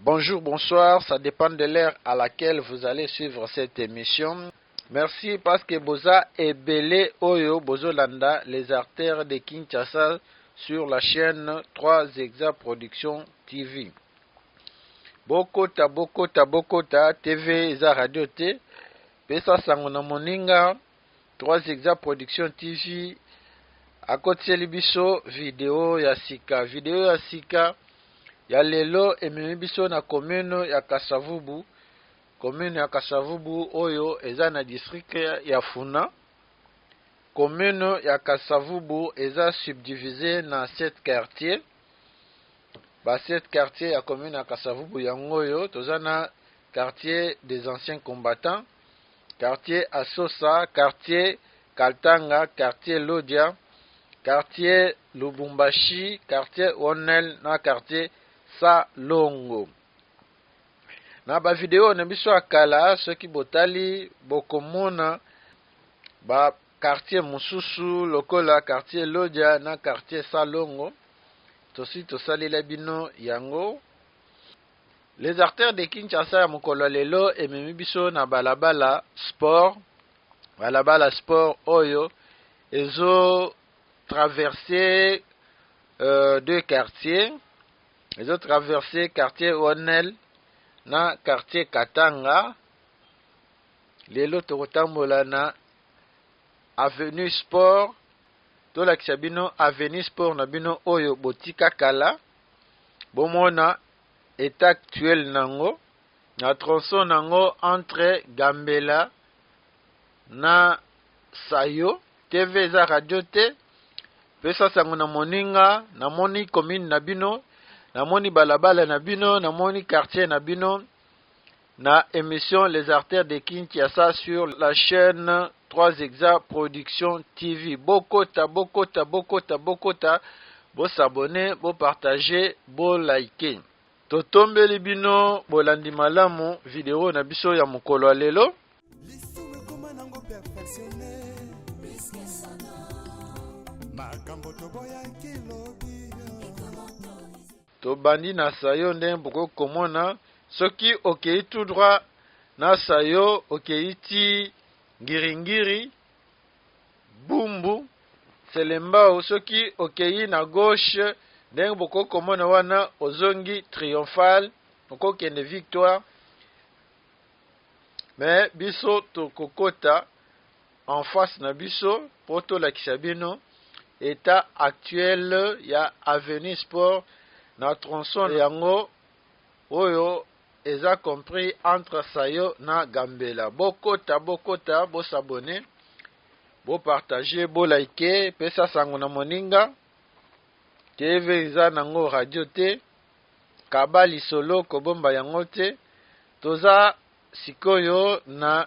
Bonjour, bonsoir, ça dépend de l'heure à laquelle vous allez suivre cette émission. Merci parce que Boza et Belé Oyo Bozolanda, les artères de Kinshasa sur la chaîne 3 Exa Production TV. Bokota, Bokota, Bokota, TV, Eza Radio T. Pesa Sangona Moninga. 3 Zigzag Production TV akotiseli biso video ya sika. Video ya sika ya lelo ememi biso na commune ya Kasavubu. Commune ya Kasavubu oyo eza na district ya Funa. Commune ya Kasavubu eza subdivise na 7 quartier. Ba 7 quartier ya commune ya Kasavubu yango oyo toza na quartier des anciens combattants quartier Asosa, quartier Kaltanga, quartier Lodia, quartier Lubumbashi, quartier Onel na quartier Salongo. Na ba video na biso ya kala soki botali bokomona ba quartier mosusu lokola quartier Lodia na quartier Salongo tosi tosalela bino yango Les artères de Kinshasa ya mokolo ya lelo ememi biso na balabala sport balabala sport oyo ezo traverse euh, deux quartiers ezo traverse quartier Onel na quartier Katanga lelo tokotambola na avenue sport tolakisa bino avenue sport na bino oyo botika kala bomona etat actuel nango na tronçon nango entre Gambela na Sayo TV eza radio te pesa sango na moninga namoni commune na bino namoni balabala na bino namoni quartier na bino Na emission Les Artères de Kinshasa sur la chaine 3 Exa Production TV. Bokota, bokota, bokota, bokota, bo s'abonner, bo partager, bo liker. Totombeli bino bolandi malamu video na biso ya mokolo ya lelo. Tobandi na Saïo ndenge bokoki komona soki okeyi tout droit na Saïo okeyi ti Ngiringiri, Bumbu, Selembao soki okeyi na gauche ndenge bokoki komona wana ozongi Triomphale okokende Victoire mais biso tokokota en face na biso po tolakisa bino etat actuel ya avenue sport na tronçon yango oyo eza compris entre sayo na gambela bokota bokota bo s'abonner bo partager bo liker pesa sango na moninga tv eza nango radio te kaba lisolo kobomba yango te toza sikoyo na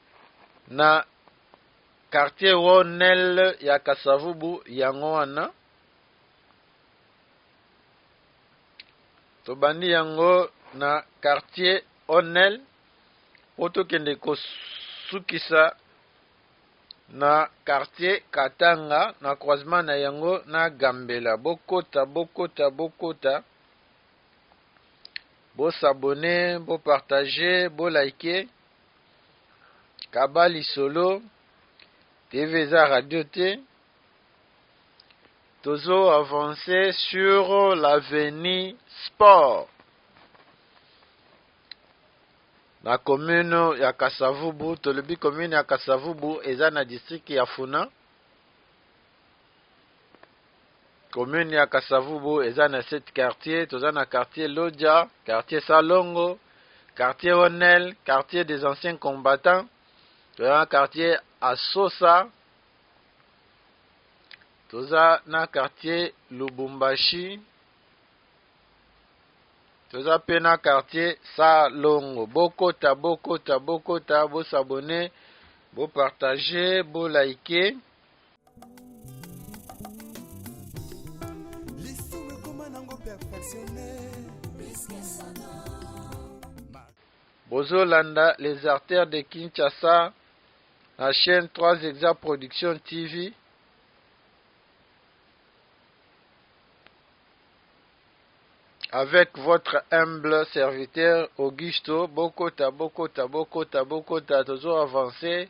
na quartier Ronel ya Kasavubu yango wana tobandi yango na quartier Onel po tokende kosukisa na quartier Katanga na croisement na yango na Gambela bokota bokota bokota bo s'abonner bo partager bo liker kaba lisolo TV eza radio te tozo avancer sur l'avenir sport na commune ya Kasavubu tolobi commune ya Kasavubu eza na district ya Funa commune ya Kasavubu eza na sept quartier toza na quartier Lodja quartier Salongo quartier Honel quartier des anciens combattants toza na quartier Asosa toza na quartier Lubumbashi toza pe na quartier Salongo bokota bokota bokota bosabone bopartage bolaike lisumu ekoma nango perfectionne bozolanda les artères de kinshasa na chaîne 3 exa production tv avec votre humble serviteur Augusto Bokota Bokota Bokota Bokota toujours avancé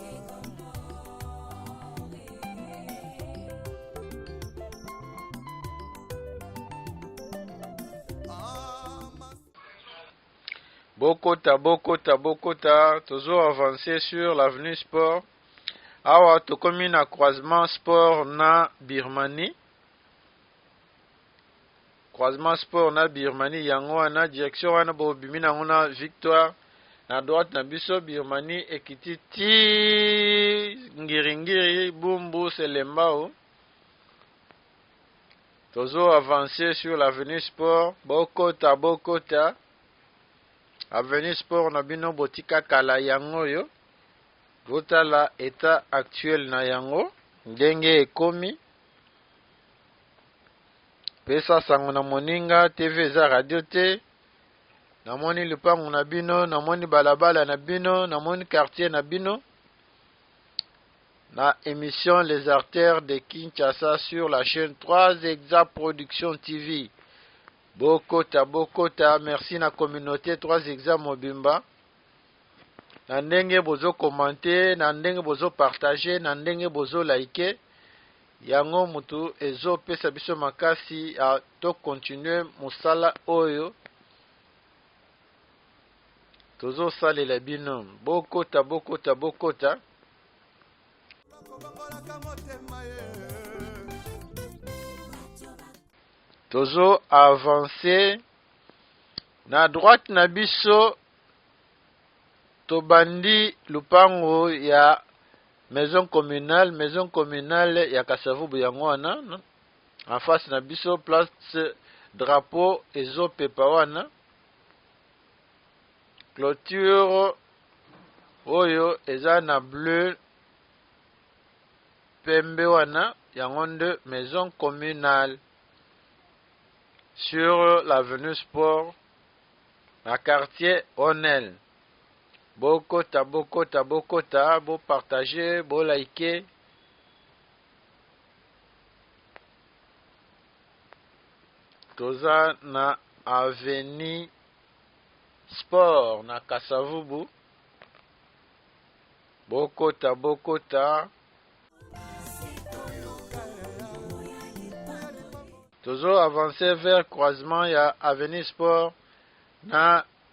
bokota bokota bokota tozo avancer sur l'avenue sport awa tokomi na croisement sport na birmanie Croisement sport na Birmanie yango wana direction wana bo bimi nango na victoire na droite na biso Birmanie ekiti ti ngiringiri bumbu selembao tozo avancer sur l'avenue sport bokota bokota avenue sport na bino botika kala yango yo botala etat actuel na yango ndenge ekomi pesa sango na moninga tv eza radio te namoni lupango na bino namoni balabala na bino namoni quartier na bino na émission les artères de kinshasa sur la chaîne 3 exa production tv bokota bokota merci na communauté 3 exa mobimba na ndenge bozo commente na ndenge bozo partage na ndenge bozo like Yango mutu ezo pesa biso makasi ya to continuer musala oyo tozo salela bino bokota bokota bokota tozo avancer na droite na biso tobandi lupango ya Maison communale, maison communale ya Kasavubu yango wana en face na biso place drapeau ezo pepa wana clôture oyo eza na bleu pembe wana yango nde maison communale sur l'avenue sport na quartier onel Bokota, bokota, bokota, bo partager, bo liker. Toza na avenue sport na Kasavubu. Bokota, bokota. Tozo avancer vers croisement ya avenue sport na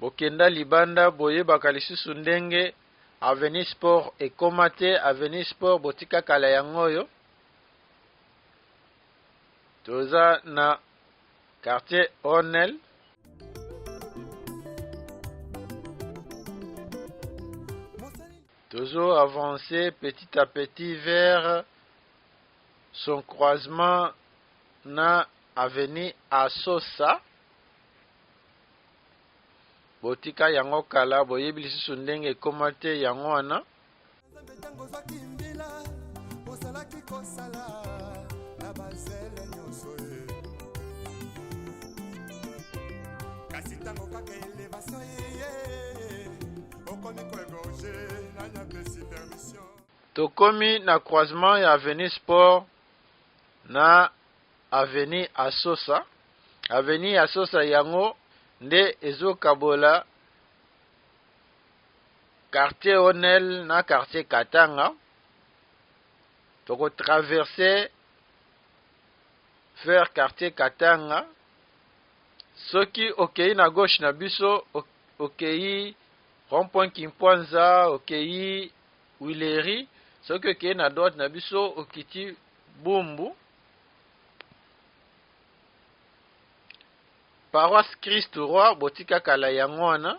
bokenda libanda boyebaka lisusu ndenge avenir sport ekoma te avenir sport botika kala yango oyo toza na Quartier Onel. Toujours avancer petit à petit vers son croisement na avenue Asosa. botika yango kala boyebi lisusu ndenge ekoma te yango wana Nzambe ntango ozwaki mbila ozalaki kosala na bazele nyonso ye kasi ntango kaka elevasio yeye okomi koegorge nani apesi permission tokomi na croisement ya avenue sport na avenue asosa avenue asosa yango nde ezokabola Quartier Onel na Quartier Katanga, toko traverser vers Quartier Katanga, soki okeyi na gauche na biso, okeyi rond-point Kimpwanza, okeyi Wileri, soki okeyi na droite na biso, okiti Bumbu, Paroisse Christ Roi, botika kala yango wana.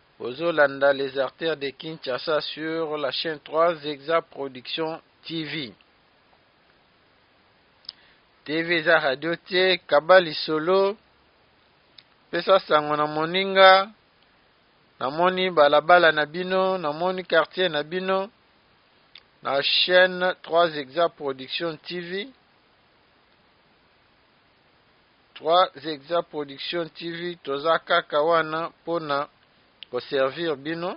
Ozo landa les artères de Kinshasa sur la chaine 3 Zexa Production TV. TV eza radio te, kaba lisolo. Pesa sango na moninga. Namoni balabala na bino, namoni quartier na bino. Na chaîne 3 Zexa Production TV. Trois Exa Production TV toza kaka wana pona ko servir bino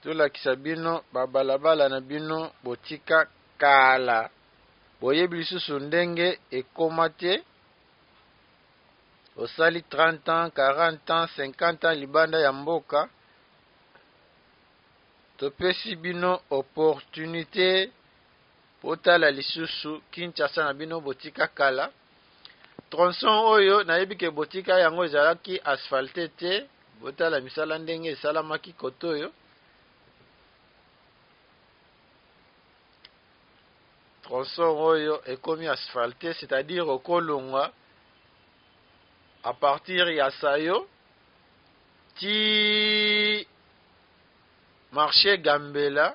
tolakisa bino ba balabala na bino botika kala boyebi lisusu ndenge ekoma te osali 30 ans 40 ans 50 ans libanda ya mboka topesi bino opportunité Botala lisusu Kinshasa na bino botika kala. Tronçon oyo nayebi ke botika yango ezalaki asphalte te. Botala misala ndenge esalamaki kotoyo. Tronçon oyo ekomi asphalte, c'est-à-dire okolongwa à partir ya Sayo ti marché Gambela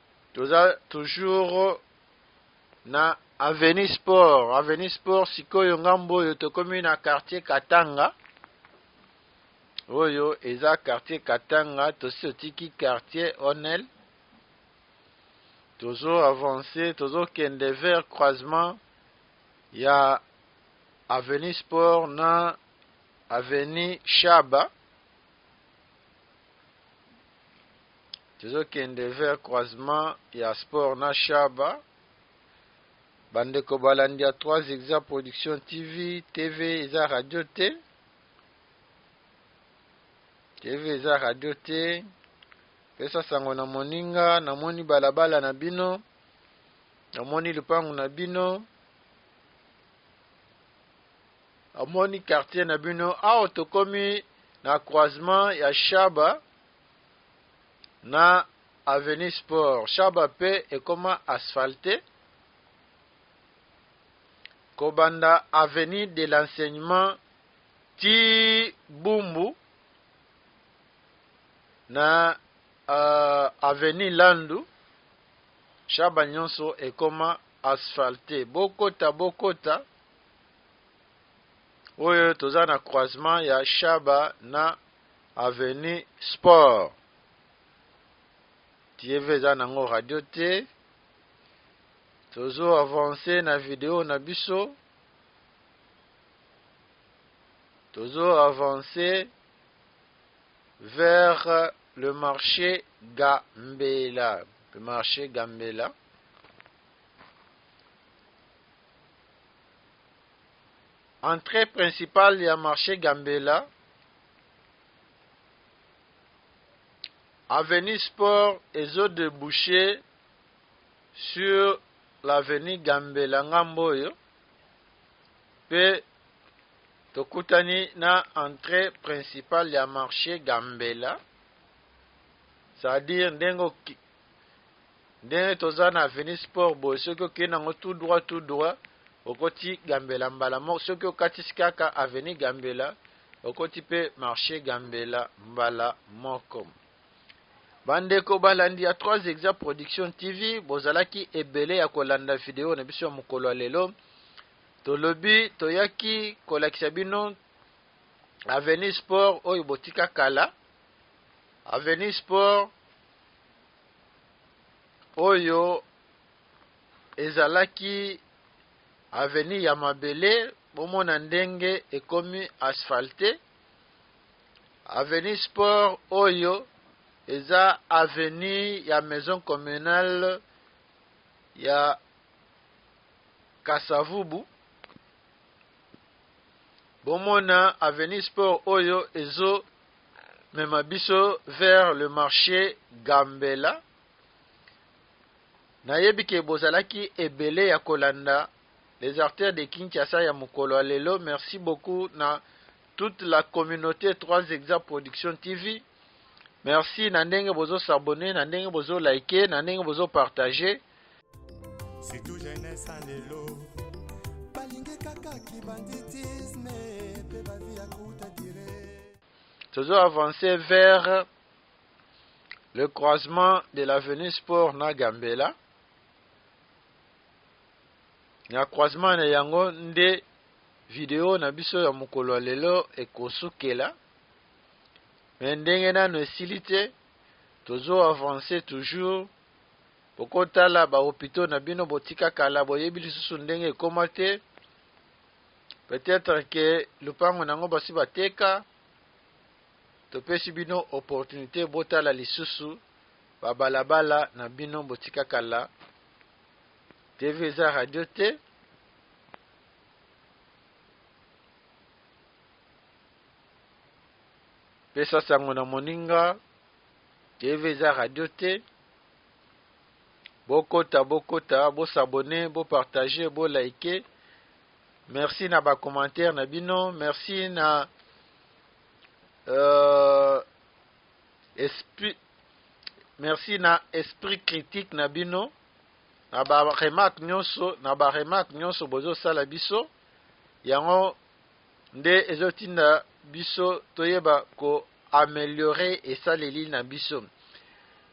Toza toujours na Avenue Sport. Avenue Sport sikoyo ngambo oyo tokomi na quartier Katanga. Oyo eza quartier Katanga, tosi totiki quartier Onel. Tozo avancer, tozo kende vers croisement ya Avenue Sport na Avenue Shaba. Tozo kende vers croisement ya sport na Shaba. Bandeko balandi ya 3 Exa Production TV, TV eza radio te. TV eza radio te. Pesa sango na moninga, namoni balabala na bino. Namoni lupangu na bino. Amoni quartier na bino. Awa tokomi na croisement ya Shaba. na avenue sport shaba pe ekoma asphalte kobanda avenue de l'enseignement ti bumbu na uh, avenue landu shaba nyonso ekoma asphalte bokota bokota oyo toza na croisement ya shaba na Avenue sport TV eza nango radio te tozo avancer na video na biso tozo avancer vers le marché Gambela le marché Gambela Entree principale ya marche Gambela, avenue Sport ezo deboucher sur l'avenue Gambela ngambo oyo pe tokutani na entree principale ya marche Gambela, c'est-à-dire ndenge ndenge toza na avenue sport boye soki okende yango tout droit tout droit okoti gambela mbala moko soki okatisi kaka avenue gambela okoti mpe marché gambela mbala moko bandeko balandi ya 3 exa production tv bozalaki ebele ya kolanda video na biso ya mokolo ya lelo tolobi toyaki kolakisa bino avenue sport oyo botika kala avenue sport oyo ezalaki avenue ya mabele bomona ndenge ekomi asphalte avenue sport oyo eza avenue ya maison communale ya kasavubu bomona avenue sport oyo ezo mema biso vers le marché Gambela. Nayebi ke bozalaki ebele ya kolanda les artères de Kinshasa ya mokolo ya lelo. Merci beaucoup na toute la communauté 3 Exa Production TV. Merci na ndenge bozo s'abonner, na ndenge bozo liker, na ndenge bozo partager. surtout jeunesse ya lelo balingi kaka kibanditisme mpe bavi ya kouta dire tozo avance vers le croisement de l'avenue sport na gambela na croisement na yango nde video na biso ya mokolo ya lelo ekosukela me ndenge nano esili te tozo avance toujours Boko tala ba hopitaux na bino botika kala boyebi lisusu ndenge ekoma te peut etre que lupango na yango basi bateka topesi bino opportunite botala lisusu ba balabala na bino botika kala TV eza radio te pesa sango na moninga TV eza radio te Bokota bokota bo s'abonner bo partager bo liker. Merci na ba commentaires na bino, merci na euh, esprit merci na esprit critique na bino na ba remarque nyonso na ba remarque nyonso bozo sala biso yango nde ezotinda biso toyeba ko ameliorer esaleli na biso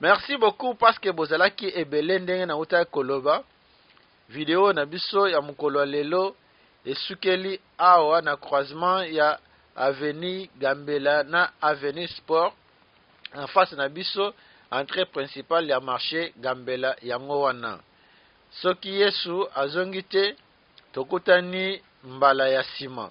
merci beaucoup parce que bozalaki ebele ndenge na utaki koloba video na biso ya mokolo ya lelo esukeli awa na croisement ya avenue gambela na avenue sport en face na biso entrée principale ya marché gambela yango wana soki yesu azongi te tokutani mbala ya nsima